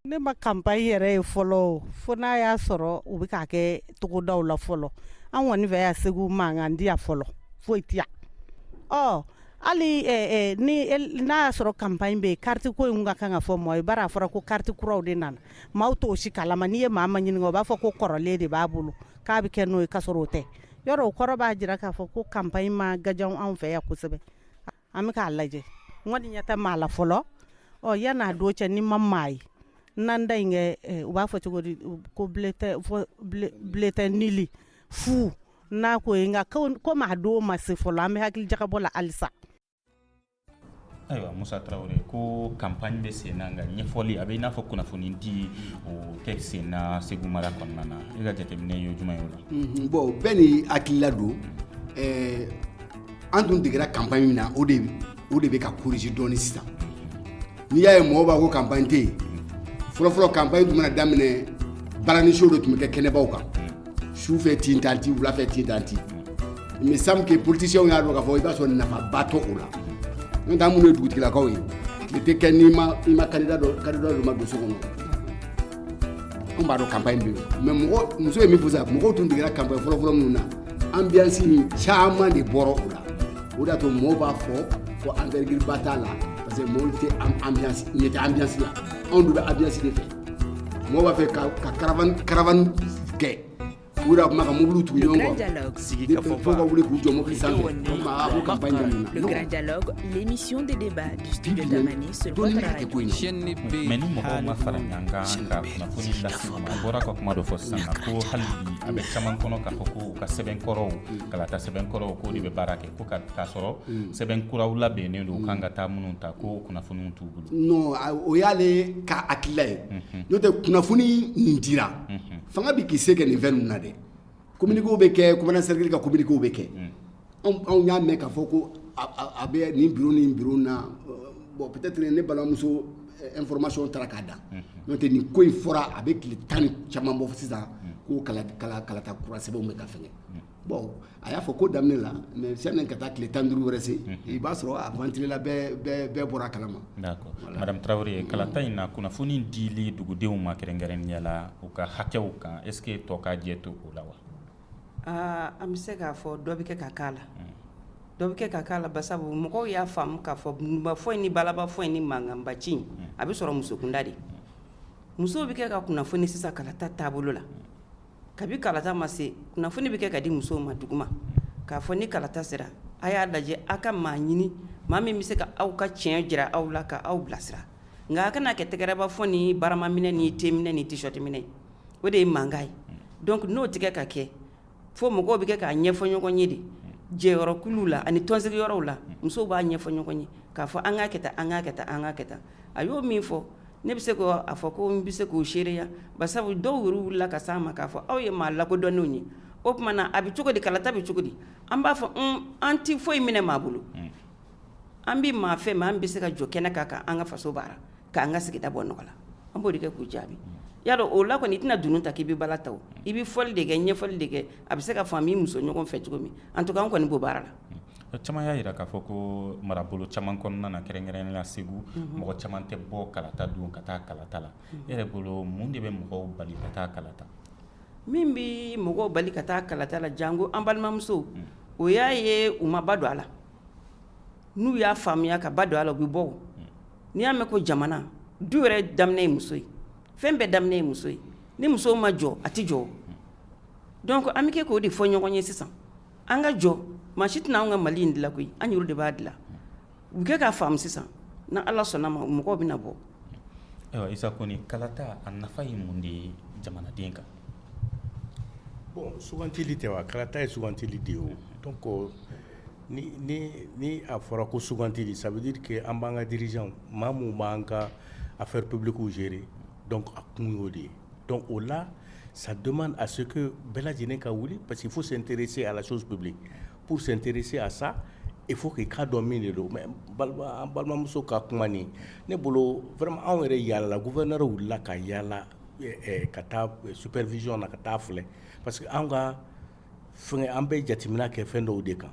Ne ma campagne yɛrɛ ye fɔlɔ fo n'a y'a sɔrɔ u bɛ k'a kɛ togodaw la fɔlɔ an kɔni fɛ yan segu mankan tɛ yan fɔlɔ foyi tɛ yan hali n'a y'a sɔrɔ campagne bɛ yen kariti ko in ka kan ka fɔ mɔgɔ ye bari a fɔra ko kariti kuraw de nana maaw t'o si kalama n'i ye maa min ɲininka o b'a fɔ ko kɔrɔlen de b'a bolo k'a bɛ kɛ n'o ye k'a sɔrɔ o tɛ yɔrɔ o kɔrɔ b'a jira k'a fɔ ko campagne ma gajan anw fɛ yan kosɛbɛ an bɛ k'a lajɛ n kɔni ɲɛ tɛ maa la fɔlɔ ɔ yann'a don cɛ ni ma maa ye n'an da in kɛ eh, u b'a fɔ cogo di ko bulletin nul fu n'a ko ye nka comme a don ma se fɔlɔ an bɛ hakili jagabɔ la halisa ayiwa musa tarawele ko campagne bɛ sen na nka ɲɛfɔli a bɛ i n'a fɔ kunnafoni di o tɛ sen na segu mara kɔnɔna na i ka jateminɛ ye jumɛn ye o la bon bɛɛ n'i hakilila don eh, an tun degera campagne min na o de o de bɛ ka corriger dɔɔni sisan n'i y'a ye mɔgɔ b'a ko campagne tɛ yen fɔlɔfɔlɔ campagne tun mana daminɛ balani show de tun bɛ kɛ kɛnɛbaw kan su fɛ tin tan ti wula fɛ tin tan ti mais semble que politiciens y'a dɔn k'a fɔ i b'a sɔrɔ nafaba tɛ o la n'o tɛ an minnu ye dugutigilakaw ye tile tɛ kɛ n'i ma i ma kandida dɔ kandida dɔ ma don so kɔnɔ Anw b'a dɔn campagne bɛ yen mais mɔgɔ muso ye min fɔ sisan mɔgɔw tun degera campagne fɔlɔ fɔlɔ minnu na ambiance in caman de bɔra o la o de y'a to mɔgɔw b'a fɔ ko envergure ba t'a la parce que mɔgɔw tɛ ambiance ɲɛ tɛ ambiance la anw dun bɛ ambiance de fɛ mɔgɔw b'a fɛ ka caravane kɛ U yɛrɛ tun bɛ ka mobiliw tugu ɲɔgɔn kɔ, le grand dialogue, sigikafɔba, fo ka wuli k'u jɔ mobili sanfɛ, le grand dialogue, le grand dialogue, l'émission de débat du studio Tamani sur votre radio, mais ni mɔgɔw ma fara ɲɔgɔn kan ka kunnafoni lase u ma, a bɔra ka kuma dɔ fɔ sisan ko hali bi a bɛ caman kɔnɔ k'a fɔ ko u ka sɛbɛn kɔrɔw, kalata sɛbɛn kɔrɔw k'o de bɛ baara kɛ ko k'a sɔrɔ sɛbɛn kuraw labɛnnen don u kan ka taa minnu ta ko kunnafoniw t'u bolo, non o y'ale ka hakilila ye, unhun, n'o tɛ kunnafoni min dira, unhun fanga bɛ k'i se kɛ nin fɛn ninnu na dɛ, communiqués bɛ kɛ commandant cercle ka communiqués bɛ kɛ, un, anw y'a mɛn k'a fɔ ko a bɛ nin bureau ni bureau in na bon peut être ne balimamuso information taara k'a dan, unhun, n'o tɛ nin ko in fɔra a bɛ tile tan ni caman bɔ sisan ko kalata kura sɛbɛnw bɛ ka fɛngɛ Bon a y'a fɔ ko daminɛ la mais sani ka taa tile 15 wɛrɛ se, unhun, i b'a sɔrɔ a ventilela bɛɛ bɔra a kalama, d'accord madame Tarawele, kalata in na kunnafoni dili dugudenw ma kɛrɛnkɛrɛnnenya la u ka hakɛw kan est ce que tɔ ka jɛ to o la wa? Aa an bɛ se k'a fɔ dɔ bɛ kɛ ka k'a la, dɔ bɛ kɛ ka k'a la basabu mɔgɔw y'a faamu k'a fɔ dununbafɔ in ni balabafɔ in ni mankanba ci in a bɛ sɔrɔ musokunda de, musow bɛ kɛ ka kunnafoni sisan kalata taabolo la Kabi kalata ma se kunnafoni bɛ kɛ ka di musow ma duguma k'a fɔ ni kalata sera a y'a lajɛ aw ka maa ɲini maa min bɛ se ka aw ka tiɲɛ jira aw la ka aw bilasira nka a kana kɛ tɛgɛrɛba fɔ ni barama minɛ ni te minɛ ni t-shirt minɛ o de ye mankan ye donc n'o tɛ kɛ ka kɛ fo mɔgɔw bɛ kɛ k'a ɲɛfɔ ɲɔgɔn ye de jɛyɔrɔkuluw la ani tɔnsigiyɔrɔw la musow b'a ɲɛfɔ ɲɔgɔn ye k'a fɔ an k'a kɛ tan an k'a kɛ tan an k'a kɛ tan a y'o min fɔ Ne bɛ se k'a fɔ ko n bɛ se k'o seereya basabu dɔw yɛrɛ wilila ka s'an ma k'a fɔ aw ye maa lakodɔnnenw ye o tuma na a bɛ cogo di kalata bɛ cogo di an b'a fɔ an tɛ foyi minɛ maa bolo an bɛ maa fɛ min bɛ se ka jɔ kɛnɛ kan k'an ka faso baara k'an ka sigida bɔ nɔgɔ la an b'o de kɛ k'u jaabi i y'a dɔn o la kɔni i tɛna dunun ta k'i bɛ bala ta i bɛ fɔli de kɛ ɲɛfɔli de kɛ a bɛ se ka faamu i muso ɲɔgɔn fɛ cogo min en tout cas an kɔni b'o baara la O caman y'a jira k'a fɔ ko marabolo caman kɔnɔna na kɛrɛnkɛrɛnnenya la Segu mɔgɔ caman tɛ bɔ kalata don ka taa kalata la e yɛrɛ bolo mun de bɛ mɔgɔw bali ka taa kalata min bɛ mɔgɔw bali ka taa kalata la janko an balimamusow o y'a ye u ma ba don a la n'u y'a faamuya ka ba don a la u bɛ bɔ n'i y'a mɛn ko jamana du yɛrɛ daminɛ ye muso ye fɛn bɛɛ daminɛ ye muso ye ni muso ma jɔ a tɛ jɔ donc an bɛ kɛ k'o de fɔ ɲɔgɔn ye sisan an ka jɔ maa si tɛna an ka mali in dilan koyi an yɛrɛ de b'a dilan u kɛ k'a faamu sisan ni Ala sɔnna ma mɔgɔw bɛ na bɔ Isa Kone kalata a nafa ye mun de ye jamanaden kan bon sugantili tɛ wa kalata ye sugantili de ye o donc ni a fɔra ko sugantili ça veut dire que an b'an ka dirigeant maa min b'an ka affaires publiques gérer donc a kun y'o de ye Don o la sa dɔmani a se ko bɛɛ lajɛlen ka wuli parce que fo sentere se ala soso bɛ bilen p sentere se a sa e fo k'i ka dɔn min de don mɛ balimamuso ka kuma ne bolo fana anw yɛrɛ yaala ko vɛ wulila wulila ka yaala ka taa supri vzyɔn na ka taa filɛ parce que an ka F an bɛ jateminɛ kɛ fɛn dɔw de kan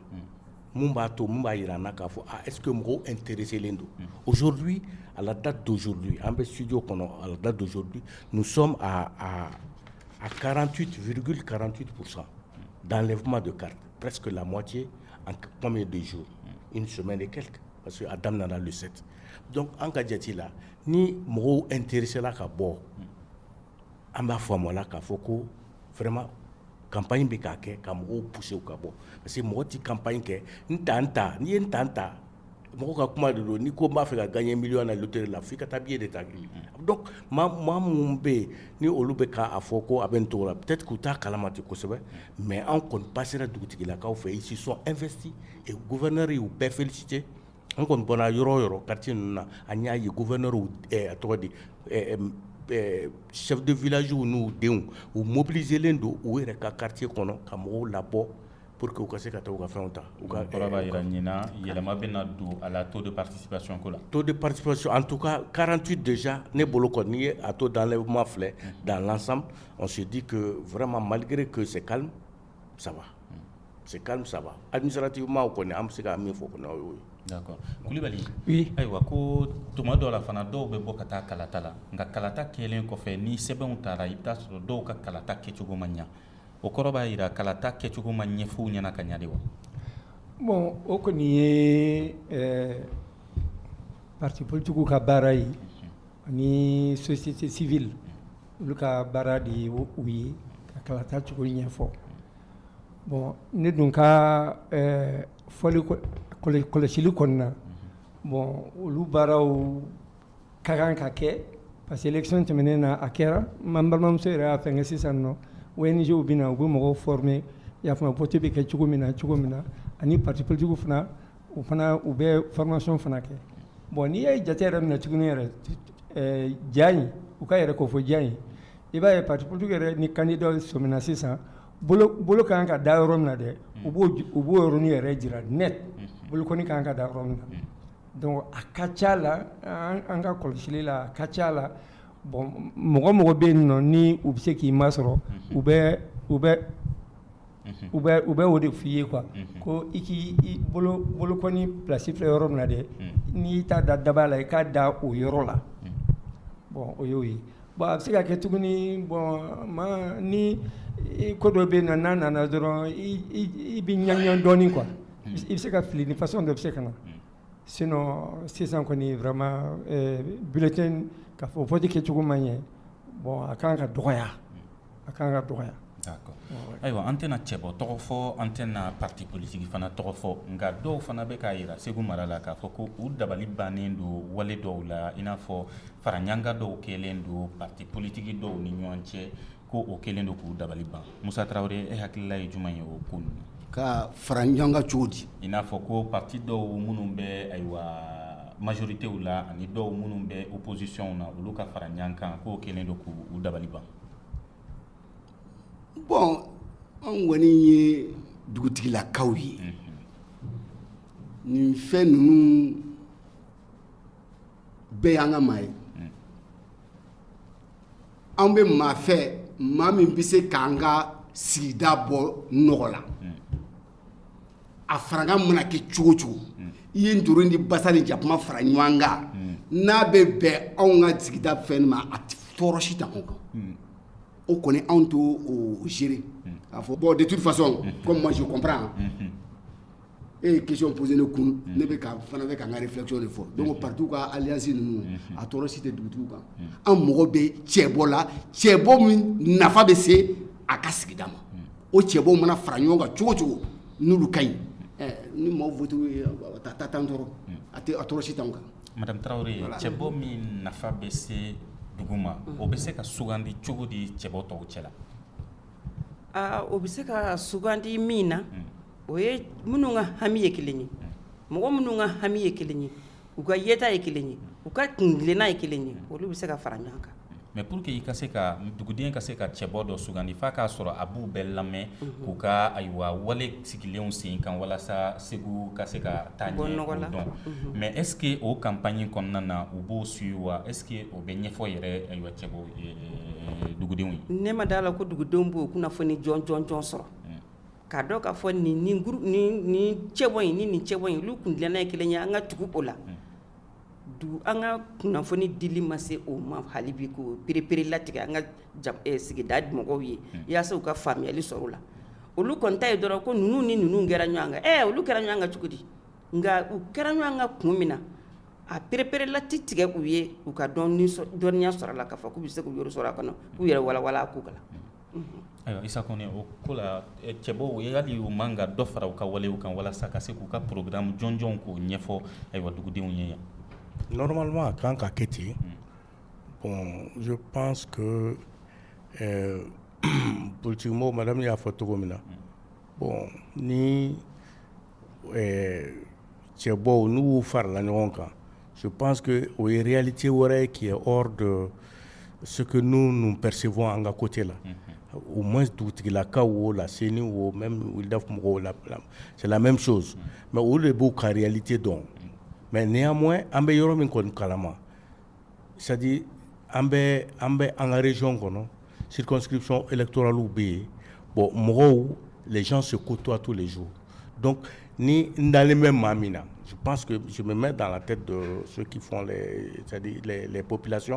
min b'a to min b'a jira n na k'a fɔ eke mɔgɔw n teri selen don ozouru a lada donsouru an bɛ sdi kɔnɔ a lada donso sɔn a karanti tufiri karanti sa danlɛfuma don kari pske lamɔ cɛ an kɔn bɛ donso in sɛmɛ de kɛlɛ parce que a daminɛmin lusɛti dɔnku an ka jate la ni mɔgɔw n teririsa ka bɔ an b'a faamu la k'a fɔ ko vraiment campagne bɛ k'a kɛ ka mɔgɔw pousser u ka bɔ parce que mɔgɔ tɛ campagne kɛ n ta n ta n'i ye n ta n ta mɔgɔ ka kuma de don n'i ko n b'a fɛ ka gagner million na loterie la fo i ka taa billet de ta donc maa minnu bɛ yen ni olu bɛ k'a fɔ ko a bɛ nin cogo la peut-être k'u t'a kalama ten kosɛbɛ mais an kɔni passera dugutigilakaw fɛ ils se sont investis et gouverneur y'u bɛɛ féliciter An kɔni bɔra yɔrɔ yɔrɔ kati ninnu na an y'a ye gufɛɛrɛw tɔgɔ di sɛdu vlasiw n'u denw u mobili zelen don u yɛrɛ ka kati kɔnɔ ka mɔgɔw labɔ po que u ka se ka taa u ka fɛnw ta u ka ɲin yɛlɛma bɛ na don a la to de pasisiko la to de pasi an tu ka karanti dɛsɛc ne bolo kɔni n'i ye a to dan ma filɛ danlan sidi wɛrɛma malikɛre kɔlɔsise kalo ça va c'est calme ça va administrativement o kɔni an bɛ se ka min fɔ kɔni o y'o ye d'accord Kulubali ayiwa ko tuma dɔ la fana dɔw bɛ bɔ ka taa kalata la nka kalata kɛlen kɔfɛ ni sɛbɛnw taara i bɛ t'a sɔrɔ dɔw ka kalata kɛcogo ma ɲɛ o kɔrɔ b'a jira kalata kɛcogo ma ɲɛfɔ u ɲɛna ka ɲa de wa bon o kɔni ye parti politiquew ka baara ye ani société civile Olu ka baara de ye u ye ka kalata cogo ɲɛfɔ bon ne dun ka kɔlɔsili kɔnɔna na bon olu baaraw ka kan ka kɛ parce que élection tɛmɛnen na a kɛra n balimamuso yɛrɛ y'a fɛn kɛ sisan nɔ ONGw bɛ na u bɛ mɔgɔw former y'a faamu vote bɛ kɛ cogo min na cogo min na ani parti politiquew fana u fana u bɛ formation fana kɛ bɔn n'i ye jate yɛrɛ minɛ cogo yɛrɛ ja in u ka yɛrɛ ko fɔ ja in i b'a ye patiw yɛrɛ ni candidat sɔmina sisan bolo ka kan ka da yɔrɔ min na dɛ u b'o u b'o yɔrɔnin yɛrɛ jira net bolokɔni ka kan ka da yɔrɔ min na donc a ka ca la an ka kɔlɔsili la a ka ca la bɔn mɔgɔ mɔgɔ bɛ yen nɔ ni u bɛ se k'i masɔrɔ u bɛ u bɛ u bɛ o de f fɔ i ye quoi ko i k'i bolokɔni place filɛ yɔrɔ min na dɛ n'i t'a da daba la i k'a da o yɔrɔ la bɔn o y'o ye bon a bɛ se ka kɛ tuguni bɔn ma ni ko dɔ bɛ na n'a nana dɔrɔn i bɛ ɲagami dɔɔnin quoi i bɛ se ka fili ni façon dɔ bɛ se ka na sinon sisan kɔni vraiment bulletin k'a fɔ vote kɛcogo ma ɲɛ bɔn a ka kan ka dɔgɔya A ka kan ka dɔgɔya ayiwa an tɛna cɛbɔ tɔgɔ fɔ an tɛna pati politigi fana tɔgɔ fɔ nka dɔw fana bɛ k'a jira segu mara la k'a fɔ ko u dabali bannen don wale dɔw la i n'a fɔ faraɲɔgɔnkan dɔw kɛlen don pati politigi dɔw ni ɲɔgɔn cɛ ko o kɛlen don k'u dabali ban Musa Tarawele e hakilila ye jumɛn ye o ko ninnu ka faraɲɔgɔnkan cogo di i n'a fɔ ko pati dɔw minnu bɛ ayiwa majoritew la ani dɔw minnu bɛ opposition na olu ka faraɲɔgɔnkan k'o kɛlen don k' u dabali ban Bɔn anw kɔni ye dugutigilakaw ye nin fɛn ninnu bɛɛ y an ka maa ye an bɛ maa fɛ maa min bɛ se k'an ka sigida bɔ nɔgɔ la a faraɲɔgɔnkan mana kɛ cogo cogo i ye ntori ni basa ni jakuma fara ɲɔgɔn kan n'a bɛ bɛn anw ka sigida fɛn ma a tɔɔrɔ si t'anw kan o kɔni anw t'o gérer k'a fɔ bɔn de toute façon comme moi je comprends e ye question poser ne kun ne bɛ fana bɛ ka n ka réflexion de fɔ donc patiw ka alliance ninnu a tɔɔrɔ si tɛ dugutigiw kan an mɔgɔ bɛ cɛbɔ la cɛbɔ min nafa bɛ se a ka sigida ma o cɛbɔ mana fara ɲɔgɔn kan cogo cogo n'olu ka ɲi ni maaw voté ta t'an tɔɔrɔ a tɛ a tɔɔrɔ si t'an kan madamu tarawele cɛbɔ min nafa bɛ se dugu ma o bɛ se ka sugandi cogo di cɛbɔ tɔw cɛ la aa o bɛ se ka sugandi min na o ye minnu ka hami ye kelen ye mɔgɔ minnu ka hami ye kelen ye U ka yeta ye kelen ye u ka kuntilenna ye kelen ye olu bɛ se ka fara ɲɔgɔn kan mais pour que i ka se ka duguden ka se ka cɛbɔ dɔ sugandi f'a k'a sɔrɔ a b'u bɛɛ lamɛn k'u ka ayiwa wale sigilenw sen kan walasa segu ka se ka taa ɲɛ k'o dɔn mais est-ce que o campagne kɔnɔna na u b'o suivre wa est-ce que o bɛ ɲɛfɔ yɛrɛ ayiwa cɛbɔ dugudenw ye ne ma d'a la ko dugudenw b'o kunnafoni jɔnjɔn sɔrɔ K'a dɔn k'a fɔ nin nin groupe nin nin cɛbɔ in ni nin cɛbɔ in olu kuntilenna ye 1 ye an ka tugu o la unhun donc an ka kunnafoni dili ma se o ma hali bi k'o pereperelatigɛ an ka jab ɛ sigida mɔgɔw ye unhun yaasa u ka faamuyali sɔrɔ o la olu kɔni ta ye dɔrɔn ko ninnu ni ninnu kɛra ɲɔgɔn kan ɛɛ olu kɛra ɲɔgɔn kan cogo di nka u kɛra ɲɔgɔn kan kun min na a pereperelati tigɛ u ye u ka dɔnni sɔ dɔnniya sɔrɔ a la k'a fɔ k'u bɛ se k'u yɔrɔ sɔrɔ a kɔnɔ k'u yɛrɛ walawala a ko kan unhun Ayiwa Isa Kɔnɛ o ko la cɛbɔw hali u man ka dɔ fara u ka walew kan walasa ka se k'u ka programme jɔnjɔnw k'o ɲɛfɔ ayiwa dugudenw ye yan normalement a kan ka kɛ ten bon je pense que politiquement madame y'a fɔ cogo min na bon ni ɛɛ cɛbɔw n'u farala ɲɔgɔn kan je pense que o ye réalité wɛrɛ ye qui est hors de ce que nous nous percevons an ka côté la, unhun, au moins dugutigilakaw o la CENI o même WILDAF mɔgɔw la c'est la même chose mais olu de b'u ka réalité dɔn mais néanmoins an bɛ yɔrɔ min kɔni kalama sadi an bɛ an bɛ an karez kɔnɔ sisɔnlɛtoraliw bɛ yen bɔn mɔgɔw lajɛc se ko cogoyato de so dɔn ni n ntalen bɛ maa min na su pan que mɛ dan tɛ don so ppilasi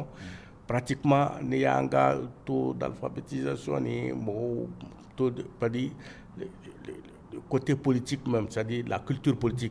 pati kuma ni y'an ka to dafafetiso ni mɔgɔw to padi ko te politi sadi la kito politi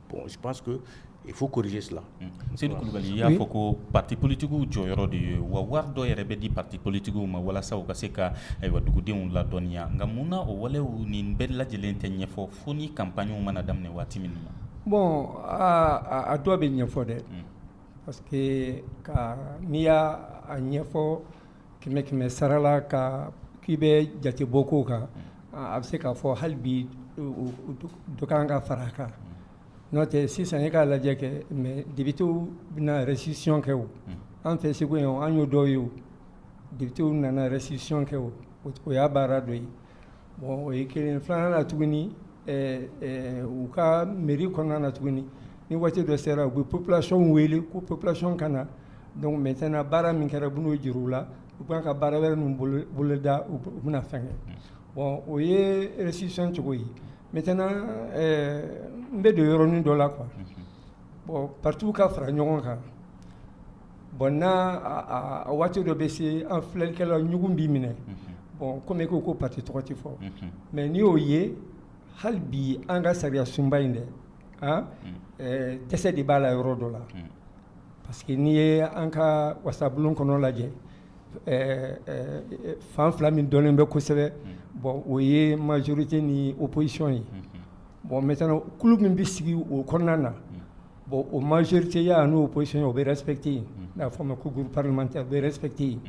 Bon je pense que il faut corriger cela Seyidu Kulubali i y'a fɔ ko parti politiquew jɔyɔrɔ de ye wa wari dɔ yɛrɛ bɛ di parti politiquew ma walasa u ka se ka ayiwa dugudenw ladɔnniya nka mun na o walew nin bɛɛ lajɛlen tɛ ɲɛfɔ fo ni campagnew mana daminɛ waati min na bon a dɔ bɛ ɲɛfɔ dɛ parce que ka n'i y'a ɲɛfɔ kɛmɛ kɛmɛ sara la ka k'i bɛ jatebɔ kow kan a bɛ se k'a fɔ hali bi dɔ kan ka fara kan n'o tɛ sisan e k'a lajɛ kɛ mais députéw bɛna restitution kɛ o an fɛ Segu yan an y'o dɔ ye o députéw nana restitution kɛ o o y'a baara dɔ ye Bon o ye kelen filanan na tuguni u ka mairie kɔnɔna na tuguni ni waati dɔ sera u bɛ population wele ko population ka na donc maintenant baara min kɛra u bɛn'o jira u la u b'a ka baara wɛrɛ ninnu boloda u bɛna fɛn kɛ bon o ye restitution cogo ye maintenant n bɛ don yɔrɔnin dɔ la quoi bon partiw ka fara ɲɔgɔn kan Bon n a waati dɔ bɛ se an filɛlikɛla ɲɔgɔn bɛ minɛ bɔn kɔmi ko ko parti tɔgɔ tɛ fɔ mais n'i y'o ye hali bi an ka sariya sunba in dɛ dɛsɛ de b'a la yɔrɔ dɔ la parce que n'i ye an ka wasabulon kɔnɔ lajɛ fan fila min dɔnnen bɛ kosɛbɛ bɔn o ye majorité ni opposition ye bɔn maintenant kulu min bɛ sigi o kɔnɔna na Bon o majrite y'a n'o psiyɛn o bɛ sɛti yen n'a fɔ ma ko gmantɛ bɛ sɛti yen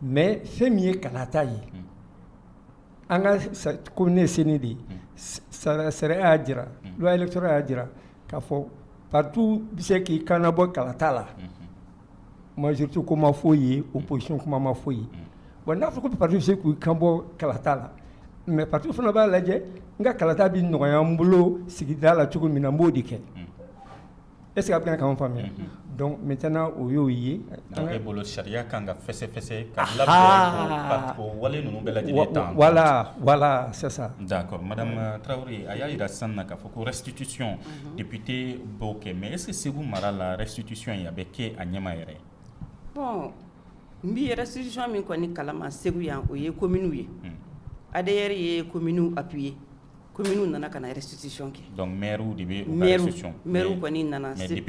mɛ fɛn min ye kalata ye an ka ko ne sen de ye sara sariya y'a jira sɔrɔ y'a jira k'a fɔ patu bɛ se k'i kan bɔ kalata la Majorité ko ma fɔ yen opposition kuma ma fɔ yen, bon n'a fɔra ko partiw bɛ se k'u kanbɔ kalata la mais partiw fana b'a lajɛ n ka kalata bɛ nɔgɔya n bolo sigida la cogo min na n b'o de kɛ est ce que a bɛ ka kan faamuya donc maintenant o y'o ye, donc e bolo sariya ka kan ka fɛsɛfɛsɛ ka labɛn o wale ninnu bɛɛ lajɛlen ta, voila voila c'est ça d'accord madame Tarawele a y'a jira sisan k'a fɔ ko restitution debite baw kɛ mɛ ese segu mara la sutisi in a bɛ kɛ a ɲɛma yɛrɛ ye bɔn n bɛ yɛrɛ sisi min kɔni kalama segu yan o ye ko miniw ye a de yɛrɛ ye ko mini a bi ye ko mini nana ka sutisi kɛ dɔnku mɛriw de bɛ mriw kɔni nana sete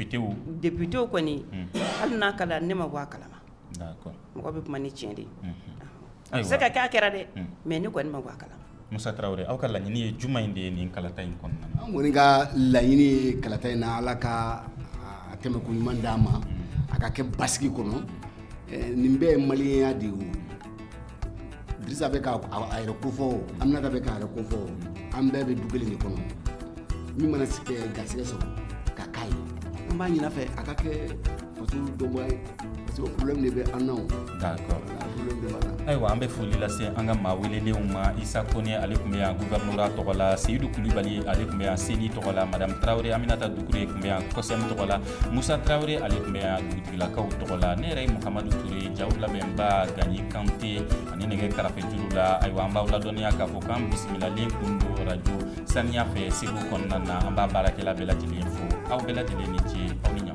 debitew kɔni hali n'a ka ne ma bɔ a kalama mɔgɔ bɛ kuma ni cɛn de ye Ayiwa se ka kɛ a kɛra dɛ mais ne kɔni ma bɔ a kalama Musa Tarawele aw ka laɲini ye jumɛn de ye nin kalata in kɔnɔ an kɔni ka laɲini ye kalata in na ala k'a tɛmɛ ko ɲuman d'an ma a ka kɛ basigi kɔnɔ nin bɛɛ ye maliyɛnya de ye Dirisa bɛ k'a yɛrɛ kofɔ wo Aminata bɛ k'a yɛrɛ kofɔ wo an bɛɛ bɛ du kelen de kɔnɔ min mana sigi garisɛgɛ sɔrɔ ka k'a ye an b'a ɲini a fɛ a ka kɛ ayiwa an bɛ foli lase an ka maa welelenw ma isa kone ale tun bɛ yan gouvernorat tɔgɔ la seyidu kulubali ale tun bɛ yan seni tɔgɔ la madame tarawele aminata dukure tun bɛ yan kɔsɛm tɔgɔ la musa tarawele ale tun bɛ yan dugutigilakaw tɔgɔ la ne yɛrɛ ye muhamadu ture jaw labɛnba ganɲi kante ani nɛgɛ karafe juru la ayiwa an b'aw ladɔnya k'a fɔ k'an bisimilalen kun don rajo saniya fɛ segu kɔnɔna na an b'a baarakɛla bɛɛ lajɛlen fo aw bɛɛ lajɛlen ni ce aw ni ɲa